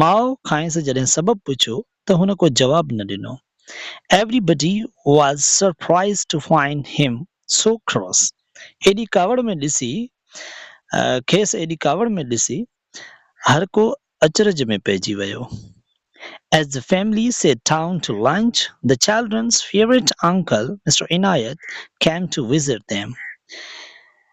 ماء کانئس جڏهن سبب پڇيو ته هن ڪو جواب نه ڏنو. Everybody was surprised to find him so cross ايڏي ڪاوڙ ۾ ڏسي کيس ايڏي ڪاوڙ ۾ ڏسي هر ڪو اچرج ۾ پئجي ويو. As the family sat down to lunch the children's favourite uncle mister Inayat came to visit them.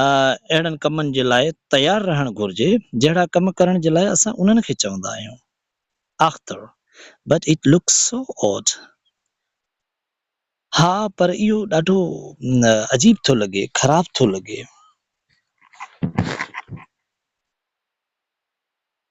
اهڙن ڪمن جي لاء تيار رهڻ گهرجي، جهڙا ڪم ڪرڻ جي لاء اسان انهن کي چوندا آهيون. آختر، But it looks so odd. ها، پر اهو ڏاڍو عجيب ٿو لڳي، خراب ٿو لڳي.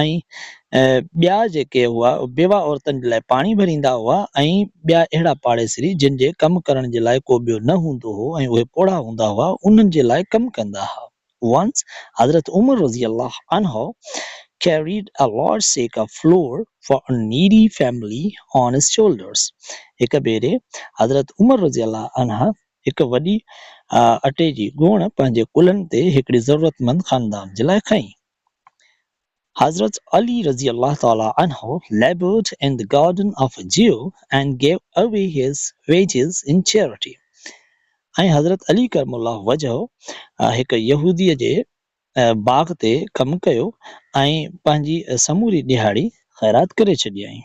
۽ ٻيا جيڪي هئا بيواه عورتن جي لاء پاڻي ڀريندا هئا ۽ ٻيا اهڙا پاڙيسري جن جي ڪم ڪرڻ جي لاء ڪو ٻيو نه هوندو هو ۽ اهي پوڙها هوندا هئا انهن جي لاء ڪم ڪندا ها Once حضرت عمر رضي الله عنه carried a large sack of flour for a needy family on his shoulders هڪ ڀيري حضرت عمر رضي الله عنه هڪ وڏي اٽي جي ڳوڻ پنهنجي ڪلهن تي هڪڙي ضرورتمند خاندان جي لاء کنئي. حضرت علي رضي الله تعالٰي عنه laboured in the garden of a Jew and gave away his wages in charity ۽ حضرت علي ڪرم الله وجهه هڪ يهودي جي باغ تي ڪم ڪيو ۽ پنهنجي سموري ڏهاڙي خيرات ڪري ڇڏيائين.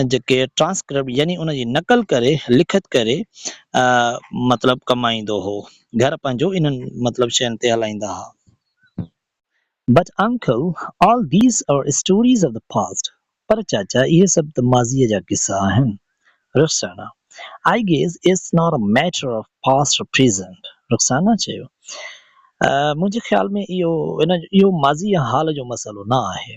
۽ جيڪي ٽرانسڪرپٽ يعني ان جي نقل ڪري لکت ڪري مطلب ڪمائيندو هو. گهر پنهنجو انهن مطلب شين تي هلائيندا ها. But uncle all these are stories of the past پر چاچا اهي سڀ ته ماضيء جا قصا آهن. Rukhsana I guess it's not a matter of past or present Rukhsana چيو منهنجي خيال ۾ اهو اهو ماضي يا حال جو مسئلو نه آهي.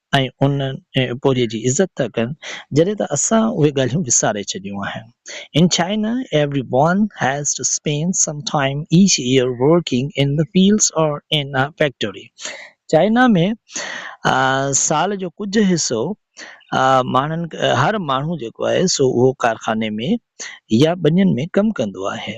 ۽ ان پورهيي جي عزت ٿا ڪن، جڏهن ته اسان اهي ڳالهيون وساري ڇڏيون آهن. In China everyone has to spend some time each year working in the fields or in a factory. China ۾ سال جو ڪجهه حصو ماڻهن هر ماڻهو جيڪو آهي سو اهو ڪارخاني ۾ يا ٻنين ۾ ڪم ڪندو آهي.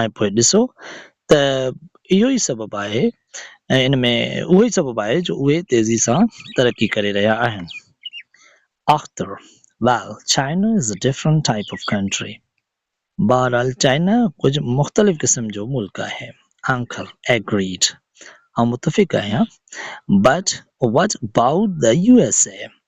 ۽ پوء ڏسو ته اهو ئي سبب آهي ۽ ان ۾ اهو ئي سبب آهي جو اهي تيزي سان ترقي ڪري رهيا آهن. Akhtar, Well, China is a different type of country. بهرحال چائنا ڪجهه مختلف قسم جو ملڪ آهي. Uncle، Agreed. آئون متفق آهيان. But what about the USA؟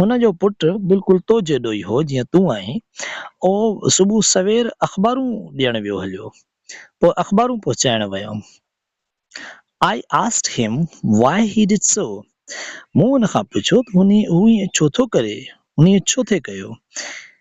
هن جو پٽ بلڪل تو جيڏو ئي هو جيئن تون آهين. اهو صبح سوير اخبارون ڏيڻ ويو هليو. پوء اخبارون پهچائڻ ويم. I asked him why he did so. مون هن کان پڇيو ته هن اهو ائين ڇو ٿو ڪري، هن ائين ڇو ٿي ڪيو.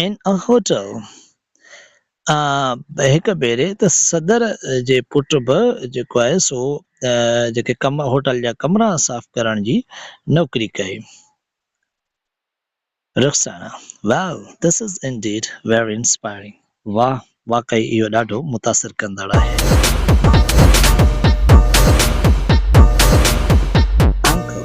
ان ا هوٽل ا هڪ ڀيري ته صدر جي پٽ به جيڪو آهي سو جيڪي ڪم هوٽل جا ڪمرا صاف ڪرڻ جي نوڪري ڪئي. Rukhsana, Wow! This is indeed very inspiring! واهه! واقعي اهو ڏاڍو متاثر ڪندڙ آهي. انڪل،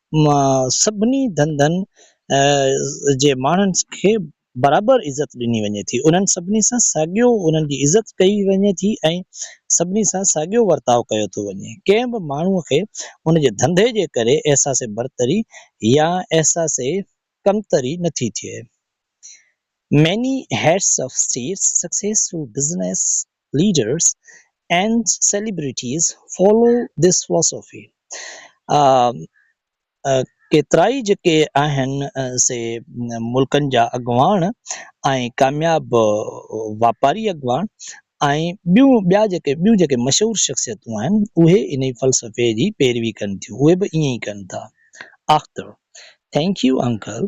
مان سڀني ڌنڌن جي ماڻهن کي برابر عزت ڏني وڃي ٿي، انهن سڀني سان ساڳيو انهن جي عزت ڪئي وڃي ٿي ۽ سڀني سان ساڳيو ورتاء ڪيو ٿو وڃي، ڪنهن به ماڻهو کي ان جي ڌنڌي جي ڪري احساس برتري يا احساس ڪمتري نه ٿي ٿئي. Many heads of states successful business leaders and celebrities follow this philosophy ڪيترائي جيڪي آهن سي ملڪن جا اڳواڻ ۽ ڪامياب واپاري اڳواڻ ۽ ٻيا جيڪي ٻيون جيڪي مشهور شخصيتون آهن اهي انهي فلسفي جي پيروي ڪن ٿيون اهي به ائين ئي ڪن ٿا آختر Thank you uncle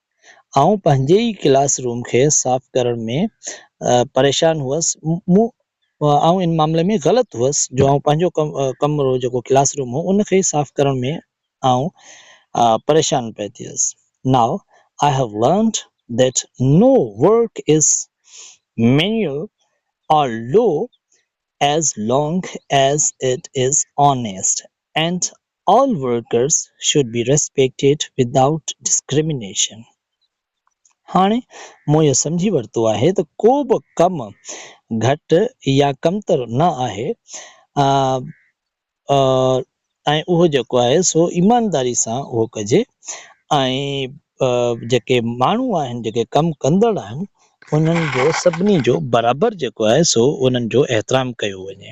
آئون پنهنجي ئي ڪلاس روم کي صاف ڪرڻ ۾ پريشان هئس. مون آئون ان معاملي ۾ غلط هئس جو آئون پنهنجو ڪمرو جيڪو ڪلاس روم هو ان کي صاف ڪرڻ ۾ آئون پريشان پئي ٿيس. Now I have learnt that no work is manual or low as long as it is honest and all workers should be respected without discrimination هاڻي مون اهو سمجهي ورتو آهي ته ڪو به ڪم گهٽ يا ڪمتر نه آهي ۽ اهو جيڪو آهي سو ايمانداري سان اهو ڪجي ۽ جيڪي ماڻهو آهن جيڪي ڪم ڪندڙ آهن انهن جو سڀني جو برابر جيڪو آهي سو انهن جو احترام ڪيو وڃي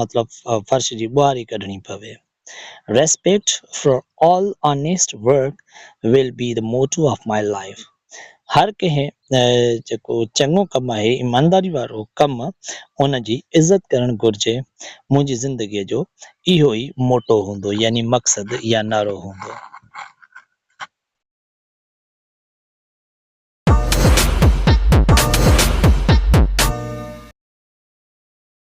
مطلب فرش جي ٻهاري ڪڍڻي پوي. Respect for all honest work will be the motto of my life هر ڪنهن جيڪو چڱو ڪم آهي ايمانداري وارو ڪم ان جي عزت ڪرڻ گهرجي منهنجي زندگي جو اهو ئي موٽو هوندو يعني مقصد يا نعرو هوندو.